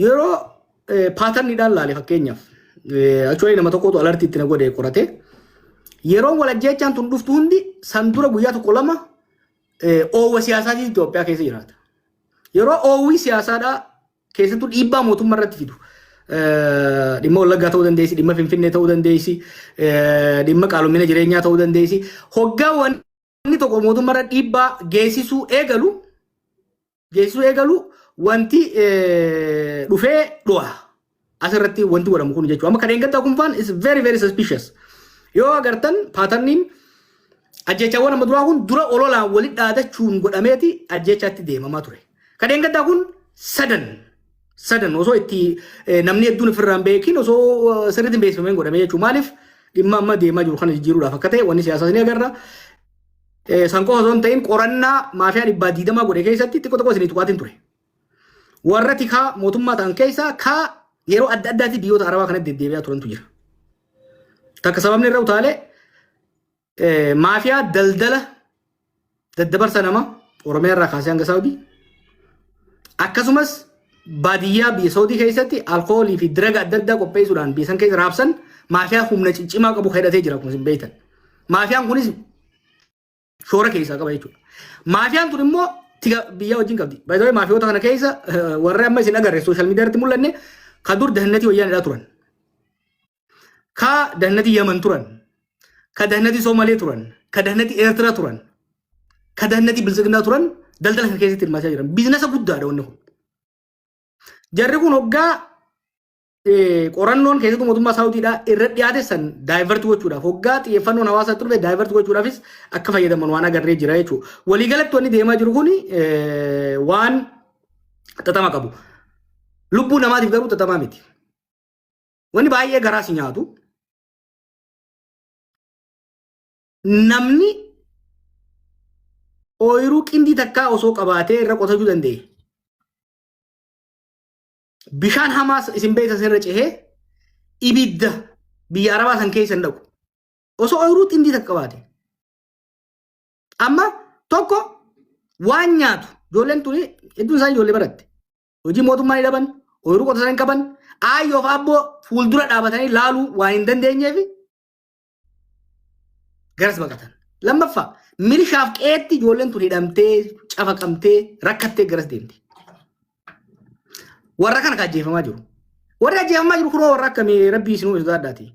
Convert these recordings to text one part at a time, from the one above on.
yeroo paatarniidhaan laale fakkeenyaaf achuwalii nama tokkotu alartii itti na godhe qorate yeroon wal ajjeechaan tun dhuftu hundi san dura guyyaa tokko lama oowwa siyaasaatiin Itoophiyaa keessa jiraata. Yeroo oowwii siyaasaadhaa keessattuu dhiibbaa mootummaa irratti fidu dhimma wallaggaa ta'uu dandeessi, dhimma finfinnee ta'uu dandeessi, dhimma qaalomina jireenyaa ta'uu dandeessi. Hoggaa wanni Namni tokko mootummaarra dhiibbaa geessisuu eegalu geessisuu eegalu wanti eh, dhufee dhu'a. Asirratti wanti godhamu kun jechuudha. Amma kan eeggataa kun faan is very very suspicious. Yoo agartan paatarniin ajjeechaawwan amma duraa kun dura ololaan walitti dhaadachuun godhameeti ajjeechaatti deemamaa ture. Kan eeggataa kun sadan sadan osoo itti eh, namni hedduun ofirraa hin beekin osoo eh, sirriitti hin beeksifameen godhamee jechuudha. Maaliif dhimma amma deemaa jiru kana jijjiiruudhaaf akka ta'e wanni siyaasaas ni agarra. Eh, San qofa osoo hin ta'in qorannaa maafiyaa dhibbaa diidamaa godhe keessatti xiqqoo tokko isin tuqaatiin ture. Warra tikaa mootummaa ta'an keessaa kaa yeroo adda addaatti biyyoota arabaa kanatti deddeebi'aa turantu jira. Takka sababni irra utaalee Eh, Maafiyaa daldala daddabarsa nama Oromiyaa irraa kaasee hanga Saawudii akkasumas baadiyyaa biyya Saawudii keessatti alkoolii fi diraga adda addaa qopheessuudhaan biyya san keessa raabsan maafiyaa humna ciccimaa qabu hidhatee jira akkuma isin beektan. Maafiyaan kunis shoora keessaa qaba jechuudha. Maafiyaan tun immoo tiga biyyaa wajjin qabdi. Baay'ee maafiyoota kana keessa eh, warri amma isin agarre sooshaal miidiyaa irratti mul'anne kan dur dahannati wayyaanidhaa turan. ka dahnati yaman turan ka dahnati somalee turan ka dahnati eertira turan ka dahnati biltsiginaa turan daldala kana keessatti hirmaachaa jiran biizinasa guddaadha wanni kun jarri kun hoggaa eh, qorannoon keessattuu mootummaa saawudiidhaa irra dhiyaate san daayivert gochuudhaaf hoggaa xiyyeeffannoon hawaasaa turre daayivert gochuudhaafis akka fayyadaman waan agarree jira jechuudha. Waliigalatti wanni deemaa jiru kun eh, waan xaxama qabu. Lubbuu namaatiif garuu xaxamaa miti. Wanni baay'ee garaa si nyaatu namni ooyiruu qindii takkaa osoo qabaatee irra qotachuu danda'e. Bishaan hamaa isin beektan irra cehee ibidda biyya arabaa san keessa hin dhaqu. Osoo ooyiruu qindii takka qabaate. Amma tokko waan nyaatu ijoolleen tuni hedduun isaanii ijoollee baratte. hojii mootummaa ni dhaban ooyiruu qotisan hin qaban aayyoof abboo fuuldura dhaabatanii laaluu waan hin dandeenyeef garas baqatan lammaffaa milishaaf qeetti ijoolleen tun hidhamtee cafaqamtee rakkattee garas deemte warra kana kan ajjeefamaa jiru warri ajjeefamaa jiru kunoo warra akkamii rabbii isinuu isa daadhaati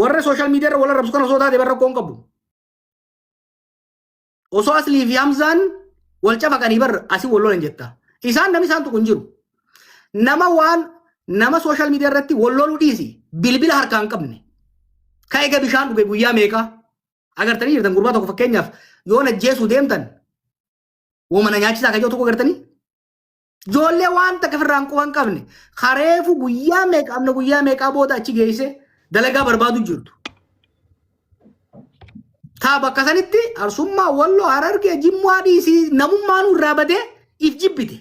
warra sooshaal miidiyaa irra wal arrabsu kana osoo taate barra qoon qabu osoo aslii fi hamzaan wal cafaqanii bar asi wal lolan jetta isaan namni isaan tuqu hin jiru nama waan nama sooshaal miidiyaa irratti wal loluu dhiisi bilbila harkaa hin qabne ka ega bishaan dhuge guyyaa meeqaa agartanii jirtan gurbaa tokko fakkeenyaaf yoo najjeesuu deemtan woma na nyaachisaa kan jedhu tokko agartanii Ijoollee waan takka firraan quba hin qabne kareefu guyyaa meeqa amna guyyaa meeqaa booda achi geesse dalagaa barbaadu jirtu. Taa bakka sanitti arsummaa walloo harargee jimmaa dhiisii namummaan irraa badee if jibbite.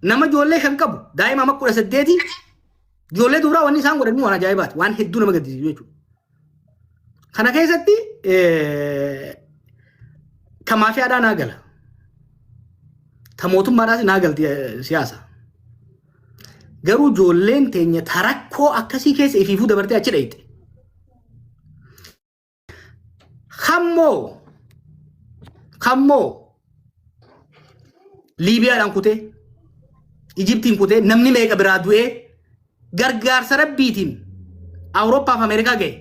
Nama ijoollee shan qabu daa'ima amma kudha saddeeti ijoollee duraa wanni isaan godhan waan ajaa'ibaati waan hedduu nama gaddisiisu jechuudha. Kana keessatti ka maafiyaadhaa naa gala. Ta mootummaadhaas naa galti siyaasa. Garuu ijoolleen teenya ta rakkoo akkasii keessa ifiifuu dabartee achi dhayxe. Kammoo kammoo Liibiyaadhaan kutee Ijiptiin kutee namni meeqa biraa du'ee gargaarsa rabbiitiin Awurooppaaf Ameerikaa ga'e.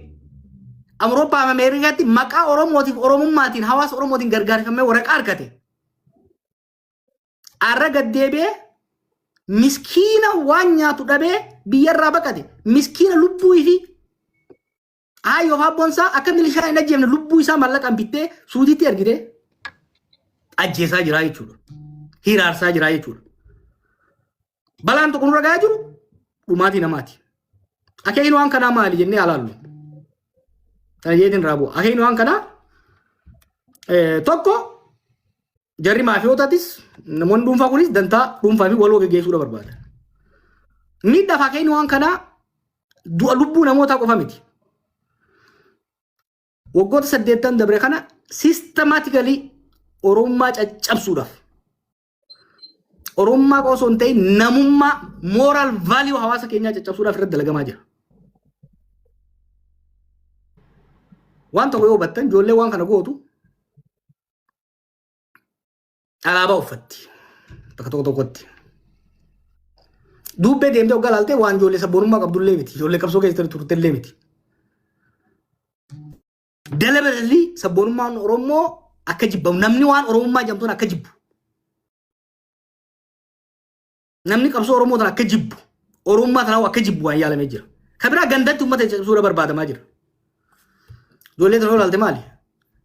Awurooppaaf Ameerikaatti maqaa Oromootiif Oromummaatiin hawaasa Oromootiin gargaarfamee waraqaa argate. Arra gaddeebi'ee miskiina waan nyaatu dhabee biyyarraa baqate. Miskiina lubbuu fi Haa yoo haabboon isaa akka milishaa hin ajjeefne lubbuu isaa mallaqaan bittee suudiitti ergitee ajjeesaa jiraa jechuudha. Hiraarsaa jiraa jechuudha. Balaan tokko nurra gahaa jiru dhumaatii namaati. Akeekni waan kanaa maali jennee alaallu. Kana jeetiin irraa bu'a. Akeekni waan kanaa eh, tokko jarri maafiyootaatis namoonni dhuunfaa kunis dantaa dhuunfaa fi waloo geggeessuudha barbaada. Miidhaa fakkeenya waan kanaa du'a lubbuu namootaa qofa miti. Waggoota saddeettan dabre kana sistemaatikali Oromummaa caccabsuudhaaf Oromummaa qofa osoo hin ta'in namummaa mooraal vaaliyuu hawaasa keenyaa caccabsuudhaaf irratti dalagamaa jira. Waan tokko yoo hubattan ijoollee waan kana gootu alaabaa uffatti bakka tokko tokkotti. Duubbee deemtee oggaa ilaaltee waan ijoollee sabboonummaa qabdullee miti. Ijoollee qabsoo keessatti turtellee miti. Dalabalallii sabboonummaan Oromoo akka jibbamu namni waan Oromummaa jedhamtuun akka jibbu. Namni qabsoo Oromoo tana akka jibbu, Oromummaa tanaa akka jibbu waan yaalamee jira. Ka biraa gandatti uummata cimsuudha barbaadamaa jira. Ijoollee tana olaalte maali?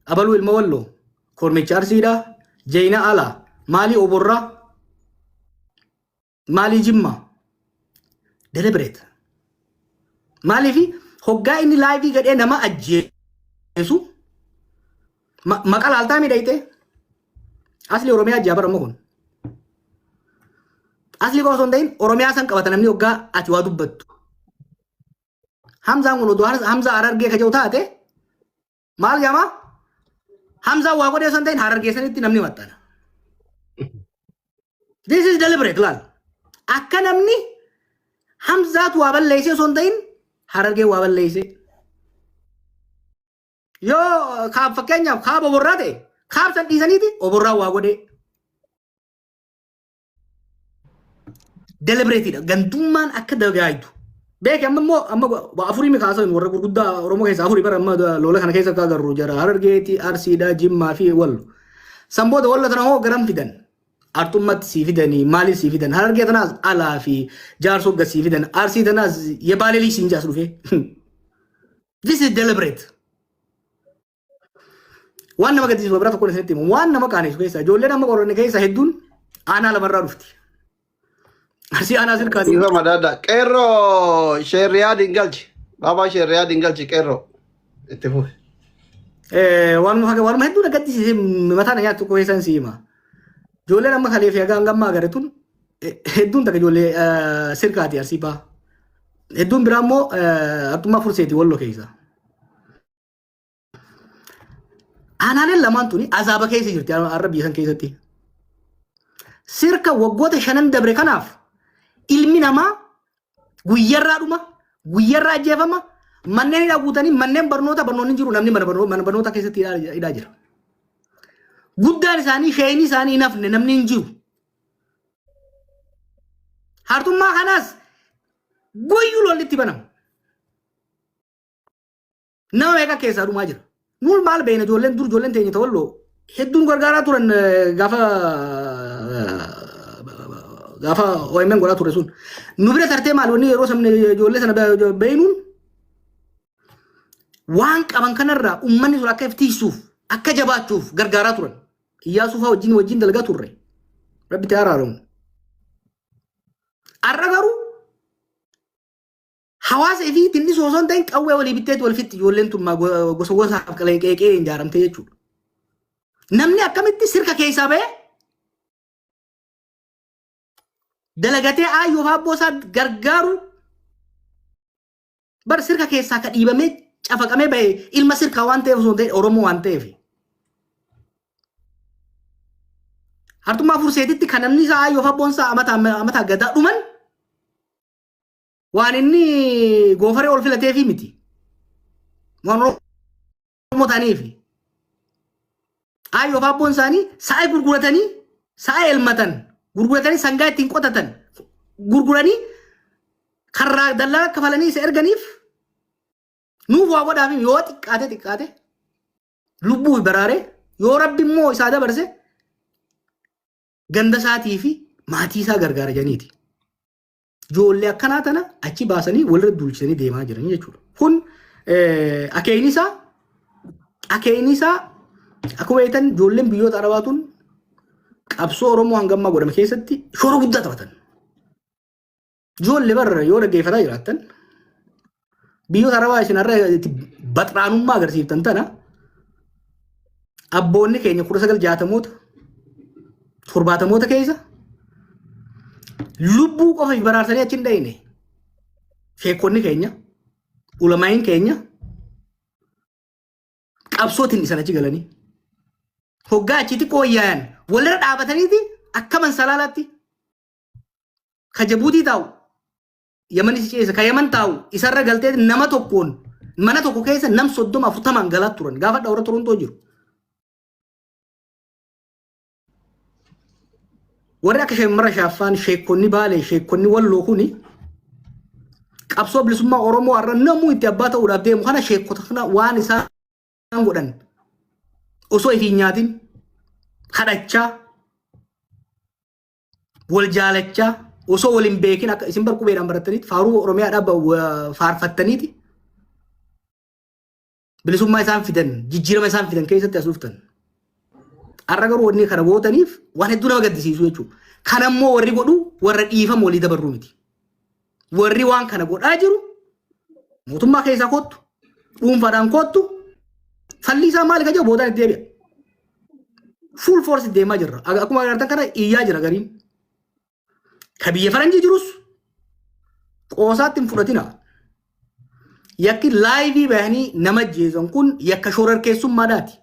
Abaluu ilma walloo, kormicha arsiidha, jeyna alaa, maalii oborraa, maalii jimmaa, deliberate. Maaliif hoggaa inni laayivii gadhee nama ajjeesu Ma- Maqa laaltaa miidhagdee? Asli Oromiyaa jaabar amma kun. Asli koo osoo hin ta'in Oromiyaa san qabata namni waggaa ati waa dubbattu. Hamzaan kun oduu har- Hamzaa Harargee kaja'u taate maal jedhama? Hamzaan waa godhee osoo hin ta'in Harargee sanitti namni maxxana. This is deliberate laal. Akka namni Hamzaatu waa balleessee osoo hin ta'in Harargee waa balleessee. Yoo kaab fakkeenyaaf kaaba oborraa ta'e kaab san dhiisaniiti oborraa waa godhee. Delibereetiidha. Gantummaan akka dagaagdu. Beeki amma immoo amma afurii mi kaasoo warra gurguddaa Oromoo keessaa afurii bara amma loola kana keessa akka agarru jara Harargeeti, Arsiidha, Jimmaa fi Wallo. San booda walla tana hoo garam fidan? Arxummatti sii fidanii maaliif sii fidan? Harargee tanaas alaa fi jaarsoo gad sii fidan. Arsii tanaas yebaaleelii siin jaas dhufee. This is deliberate. Waan nama gaddisiisu bira tokkoon isinitti himu. Waan nama qaaneessu keessa ijoolleen amma qoranne keessa hedduun aanaa lamarraa dhufti. Arsii aanaa silkaati. Dhiifa madaadha. Qeerroo sheerriyaa dingalchi. Baabaa sheerriyaa dingalchi qeerroo. Itti fufi. Eh, Waanuma faga- waanuma hedduun gaddisiise mataa na nyaattu tokko keessan si hima. Ijoolleen amma kaleefi haga hanga ammaa agarre tun hedduun takka ijoollee eh, sirkaati arsii baha. Hedduun biraa immoo eh, artummaa furseeti wallo keessa. Aanaaleen lamaan tuni azaaba keessa jirti har'a biyya san keessatti. Sirka waggoota shanan dabre kanaaf ilmi namaa guyyarraa dhuma guyyarraa ajjeefama manneen hidhaa guutanii manneen barnoota barnoonni jiru namni mana barnoo- mana barnootaa keessatti hidhaa hidhaa jira. Guddaan isaanii shayinii isaanii hin hafne namni hin jiru. Hartummaa kanas guyyuu lolli itti banama. Nama meeqa keessaa dhumaa jira. Nuun maal beekna ijoolleen dur ijoolleen teenya ta'olloo hedduun gargaaraa turan eh, gaafa gaafa OMN godhaa ture sun. Nu bira tartee maal wanni yeroo sabni ijoollee sana be- beeknuun waan qaban kanarraa uummanni sun akka iftiisuuf akka jabaachuuf gargaaraa turan. Iyyaasuu fa'aa wajjin wajjin dalagaa turre. Rabbi itti araaramu. Har'a garuu hawaasa fi tinni osoo hin ta'in qawwee walii bitteetti wal fixxi ijoolleen tun maa go- gosa gosaaf qaleeqeeqee hin jaaramte jechuudha. Namni akkamitti sirka keessaa ba'ee dalagatee aayyoo fi abboo isaa gargaaru Bar sirka keessaa ka dhiibamee cafaqamee bahe ilma sirkaa waan ta'eef osoo hin ta'in Oromoo waan ta'eef. Hartummaa furseetitti kan namni isaa ayyoo fabboon isaa amata amata gadaa dhuman waan inni goofaree ol filateefii miti. Waan Oromoo Oromoo ta'aniif Aayyoof abboon isaanii sa'a gurguratanii sa'a elmatan gurguratanii sangaa ittiin qotatan gurguranii karraa dallaa akka falanii isa erganiif nuuf waa godhaaf yoo xiqqaate xiqqaate lubbuu baraare yoo rabbi immoo isaa dabarse ganda isaatii fi maatii isaa gargaara janiiti. Ijoollee akkanaa tana achi baasanii walirra duulchisanii deemaa jiranii jechuudha. Kun eh, akeekni isaa akeekni isaa akkuma beektan ijoolleen biyyoota arabaa tun qabsoo Oromoo hanga ammaa godhame keessatti shoora guddaa taphatan. Ijoollee barra yoo dhaggeeffataa jiraattan Biyyoota Arabaa isin har'a itti baxraanummaa agarsiiftan tana abboonni keenya kudha sagal jaatamoota torbaatamoota keessa lubbuu qofa baraarsanii achi hin dhayine. Sheekonni keenya, ulamaa'iin keenya qabsootiin dhisan achi galanii. Hoggaa achitti qooyyaayan walirra dhaabataniiti akkaman salaalaatti ka Jabuutii taa'u Yamanis ceese ka Yaman taa'u isarra galtee nama tokkoon mana tokko keessa nam soddoma afurtamaan galaa turan gaafa dhawra Torontoo jiru. Warri akka shamarra shaaffaan sheekonni baalee sheekonni walloo kuni qabsoo bilisummaa Oromoo har'a namuu itti abbaa ta'uudhaaf deemu kana sheekota kana waan isaan godhan osoo ifiin nyaatin kadhachaa wal jaalachaa osoo wal hin beekin akka isin bar qubeedhaan barattaniiti faaruu Oromiyaadhaa ba- wa- faarfattaniiti bilisummaa isaan fidan jijjiirama isaan fidan keessatti as dhuftan. Har'a garuu wanni kana gootaniif waan hedduu nama gaddisiisu jechuudha. Kan ammoo warri godhu warra dhiifama walii dabarruu miti. Warri waan kana godhaa jiru mootummaa keessaa kottu dhuunfaadhaan kottu falli isaa maal ka jiru boodaan itti deebi'a. Full force deemaa jirra. Aga- Akkuma agartan kana iyyaa jira gariin. Ka biyya faranjii jirus qoosaatti hin fudhatina. Yakki laayivii bahanii nama jeesan kun yakka shorarkeessummaadhaati.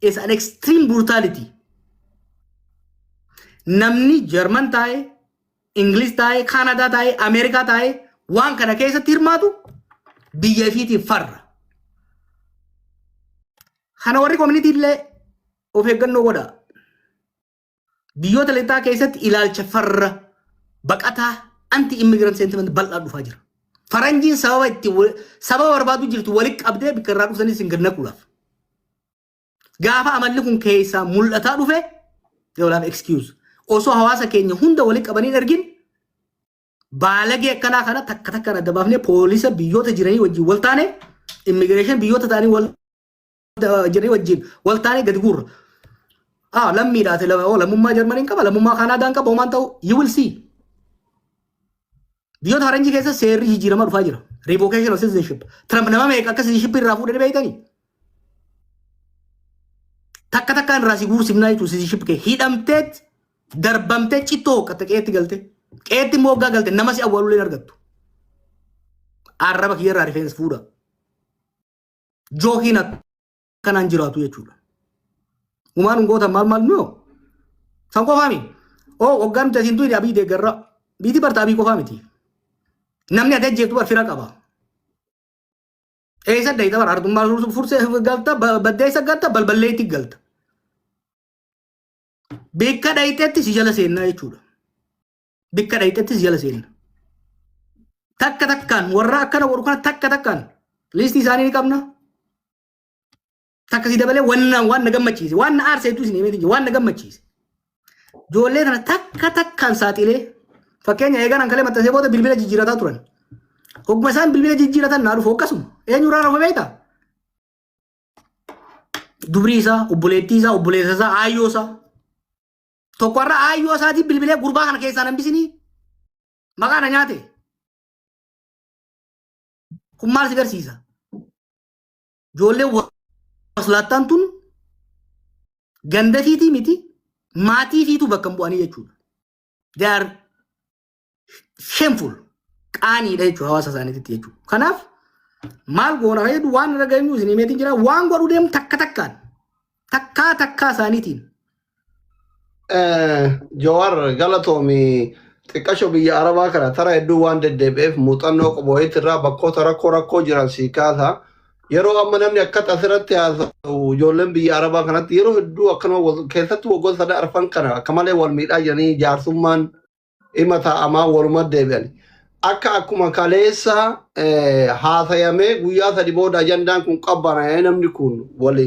It's an extreme brutality. Namni Jarman taa'e, Ingiliz taa'ee, Kaanadaa taa'ee, Ameerikaa taa'ee waan kana keessatti hirmaatu biyya ifiitiif farra. Kana warri koominitii illee of eeggannoo godhaa. Biyyoota lixaa keessatti ilaalcha farra baqataa anti immigrant sentiment bal'aa dhufaa jira. Faranjiin sababa itti wa- sababa barbaadu jirtu walitti qabdee bakka irraa dhuftanis hin gad naquudhaaf. Gaafa amalli kun keessaa mul'ataa dhufe they will have excuse. Osoo hawaasa keenya hunda walitti qabanii hin ergin baalagee akkanaa kana takka takkaan adda baafnee poolisa biyyoota jiranii wajjin wal taane immigireeshin biyyoota ta'anii wal jiranii wajjin wal taane gadi guurra. Ah, lammiidhaati lama- oo, lammummaa Jarmaniin qaba, lammummaa Kaanaadaan qaba, homaan ta'u, you will see. Biyyoota faranjii keessa seerri jijjiiramaa dhufaa jira. Revocation of citizenship. Trump nama meeqa akka citizenship irraa fuudhee beektanii? Takka takkaan irraa si guursifnaa jechuun citizenship kee hidhamtee darbamtee cittoo hooqqatte qeetti galte. Qeetti immoo hoggaa galte nama si awwaalulee hin argattu. Arraba kiyya irraa rifeensa fuudha. Jookiin akka. kanaan jiraatu jechuudha. Humaan hin gootan maal maal nuyoo? San qofaa miti. Oo waggaa nuti asiin tuyne abii deeggarra. Biitii barta abii qofaa miti. Namni ati ajjeetu bar fira qaba. Eessa dayita bar artummaa fursee galta baddeessa galta balballeetti galta. Beekka dhayiteetti si jala seennaa jechuudha. bikka dhayxettis jala seenna. Takka takkaan warra akkana godhu kana takka takkaan liistii isaanii ni qabna. Takka si dabalee wannaan waan na gammachiise waan na aarse hedduu isin himee jira waan na gammachiise. Ijoollee kana takka takkaan saaxilee fakkeenya eeganaan kalee maxxansee booda bilbila jijjiirataa turan. Hogguma isaan bilbila jijjiiratan naa dhufu akkasuma eenyurraa rafa beektaa? Dubrii isaa, obboleettii isaa, obboleessa isaa, aayyoo isaa. Tokko har'a aayyoo isaatiin bilbilee gurbaa kana keessaa nan bisinii maqaa na nyaate. Kun maal si garsiisa? Ijoollee waslaattaan tun ganda fiitii miti maatii fiituu bakka hin bu'anii jechuudha. They are shameful qaaniidha jechuudha hawaasa isaaniititti jechuudha. Kanaaf maal goona kan jedhu waan irra geenyu isin himeetiin jira waan godhu deemu takka takkaan takkaa takkaa isaaniitiin. Jawaar galatoomi xiqqasho biyya Arabaa kana tara hedduu waan deddeebi'eef muuxannoo qubooyitti irraa bakkoota rakkoo rakkoo jiran sii kaasa. Yeroo amma namni akkatti asirratti haasa'u ijoolleen biyya Arabaa kanatti yeroo hedduu akkanuma wal- keessatti waggoota sadii arfan kana akka malee wal miidhaa jiranii jaarsummaan dhima taa'amaa waluma deebi'an. Akka akkuma kaleessa eh, haasayamee guyyaa sadi booda ajandaan kun qabbanaa'ee namni kun wali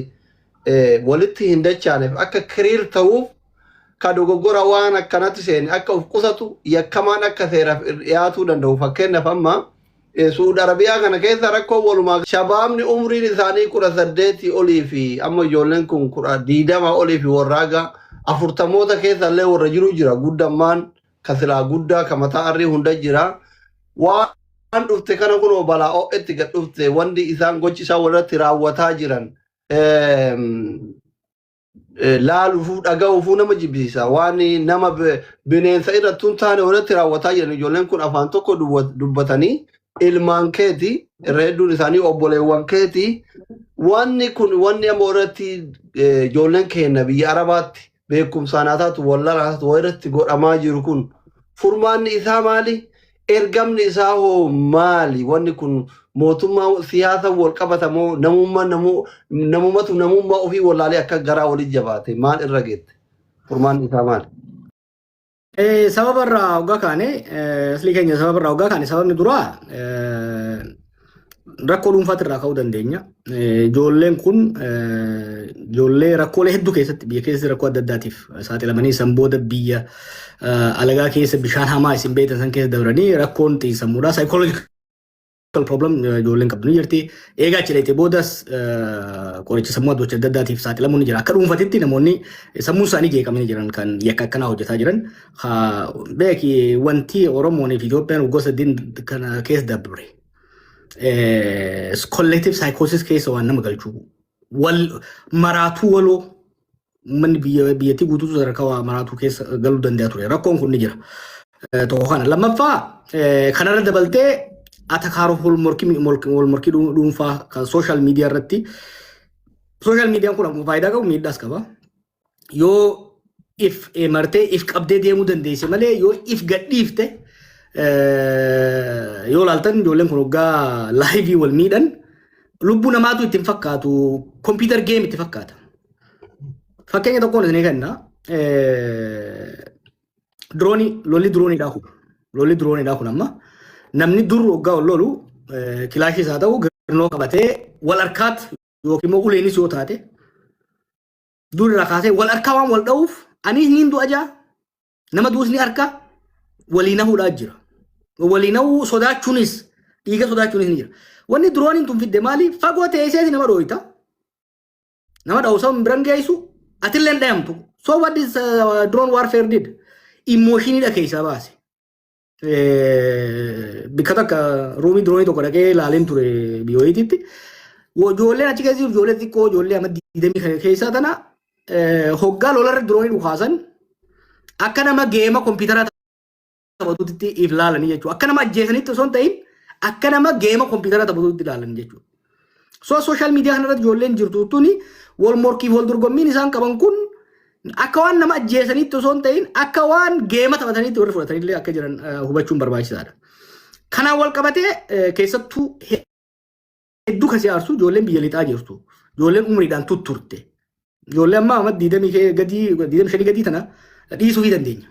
eh, walitti hin dachaaneef akka kiriir ta'uuf ka dogoggora waan akkanatti seene akka of qusatu yakkamaan akka seeraaf dhiyaatuu danda'u fakkeenyaaf amma Suud Arabiyaa kana keessa rakkoon walumaa shabaabni umriin isaanii kudha saddeetii olii fi amma ijoolleen kun kudha diidama olii fi warraaga afurtamoota keessa illee warra jiru jira guddammaan ka silaa guddaa ka mataa arrii hunda jira waan dhufte kana kunoo balaa ho'etti gad dhufte wanti isaan gochi isaan walirratti raawwataa jiran eh, laaluufuu dhaga'uufuu nama jibbisiisa waan nama bi- bineensa irratti hin taane irratti raawwataa jiran ijoolleen kun afaan tokko duwwa- dubbatanii ilmaan keeti irra hedduun isaanii obboleewwan keeti wanni kun wanni amma irratti eh, ijoolleen keenya biyya arabaatti beekumsaan haa taatu wallaan haa taatu waa irratti godhamaa jiru kun furmaanni isaa maali Ergamni isaa hoo maali? Wanni kun mootummaa siyaasa wal qabata moo namumma namu namumatu namummaa ofii wallaalee akka garaa walitti jabaate maal irra geette? Furmaanni isaa maali? Eh, sababa irraa hoggaa kaane eh, aslii keenya sababa irraa hoggaa kaane sababni duraa eh, rakkoo dhuunfaatti irraa ka'uu dandeenya. Ijoolleen kun ijoollee rakkoolee hedduu keessatti biyya keessatti rakkoo adda addaatiif saaxilamanii san booda biyya alagaa keessa bishaan hamaa isin beektan san keessa dabranii rakkoon xiinsammuudhaa psychological problem ijoolleen qabdu ni jirti. Eegaa achi dhayite boodas qoricha sammuu adda addaatiif saaxilamuun ni jira. Akka dhuunfatitti namoonni sammuun isaanii jeeqamanii jiran kan yakka akkanaa hojjetaa jiran Beeki wanti Oromoon fi Itoophiyaan waggoota saddeet kana keessa dabre. Collective psychosis keessa waan nama galchu. Wal maraatuu waloo manni biyyattii guutuu sadarkaa waa maraatuu keessa galuu danda'a ture. Rakkoon kun ni jira. Tokko kana. Lammaffaa kanarra dabaltee atakaaroo wal morkii dhuunfaa kan sooshaal miidiyaa irratti. Sooshaal miidiyaan kun akkuma faayidaa qabu miidhaas qaba. yoo if eh, martee if qabdee deemuu dandeesse malee yoo if gadhiifte eh, yoo laaltan ijoolleen kun waggaa laayivii wal miidhan lubbuu namaatu itti hin fakkaatu kompiitar geem itti fakkaata. Fakkeenya tokkoon isin kenna diroonii lolli dirooniidhaa kun lolli dirooniidhaa kun amma namni dur waggaa ol lolu eh, kilaashis haa ta'u garnoo qabatee wal harkaatti yookiin immoo uleenis yoo taate Duun irraa kaasee wal harkaa waan wal dha'uuf aniis niin du'a jaa nama du'us ni harka walii nahuudhaa jira. Walii nahuu sodaachuunis dhiiga sodaachuunis ni jira. Wanni dirooniin tun fidde maali? Fagoo teesseeti nama dhooyta. Nama dha'uusa hin biran geessu atillee hin dhayamtu. So what this uh, drone warfare did? Immooshinidha keessaa baase. bikka takka ruumii diroonii tokko dhaqee laaleen ture biyyoitiitti. Ijoolleen achi keessa jiru ijoollee xiqqoo ijoollee amma diidamii kana keessaa tana hoggaa lolarra diroonii dhukaasan akka nama geema kompiitaraa taphatutti if laalanii jechuudha. Akka nama ajjeesanitti osoo hin ta'in akka nama geema kompiitaraa taphatutti ilaalanii jechuudha. So social media kanarratti ijoolleen jirtu tuni wal morkiif wal dorgommiin isaan qaban kun akka waan nama ajjeesaniitti osoo hin ta'in akka waan geema taphataniitti warri fudhatanillee akka jiran eh, hubachuun barbaachisaadha. Kanaan wal qabatee eh, keessattuu hedduu kan si aarsu ijoolleen biyya lixaa jirtu ijoolleen umriidhaan tutturte Ijoollee ammaa amma diidamii kee gadii diidamii shanii gadii tana dhiisuu fi dandeenya.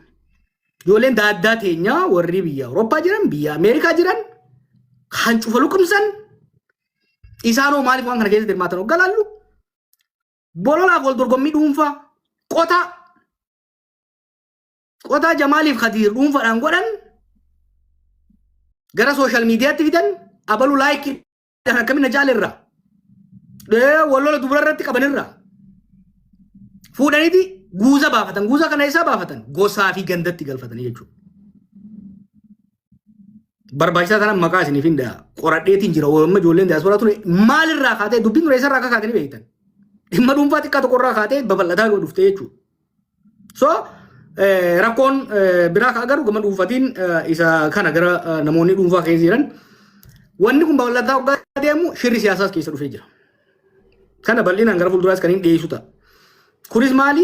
Ijoolleen daaddaa teenyaa warri biyya Awurooppaa jiran biyya Ameerikaa jiran kan cufa luqumsan isaanoo maaliif waan kana keessatti hirmaatan hoggaa laallu bololaaf wal dorgommii dhuunfaa qotaa qotaa jamaaliif kadiir dhuunfaadhaan godhan gara sooshaal miidiyaatti fidan abalu laayikii Kan akkamiin na jaalerra. Wallola dubara irratti qabanirra. Fuudhaniiti guuza baafatan. Guuza kana isaa baafatan. Gosaa fi gandatti galfatanii jechuudha. Barbaachisaa tanan maqaa isiniif hin dha'a. Qoradheetiin jira. Amma ijoolleen diyaasporaa ture maalirraa kaatee dubbiin ture isarraa akka kaatanii beektan. Dhimma dhuunfaa xiqqaa tokkorraa kaatee babal'ataa yoo dhufte jechuudha. So rakkoon biraa ka agarru gama dhuunfatiin isa kana gara namoonni dhuunfaa keessa jiran wanni kun babal'ataa hoggaa deemu shirri siyaasaas keessa dhufee jira. Kana bal'inaan gara fuulduraas kan hin dhiyeessu ta'a. Kunis maali?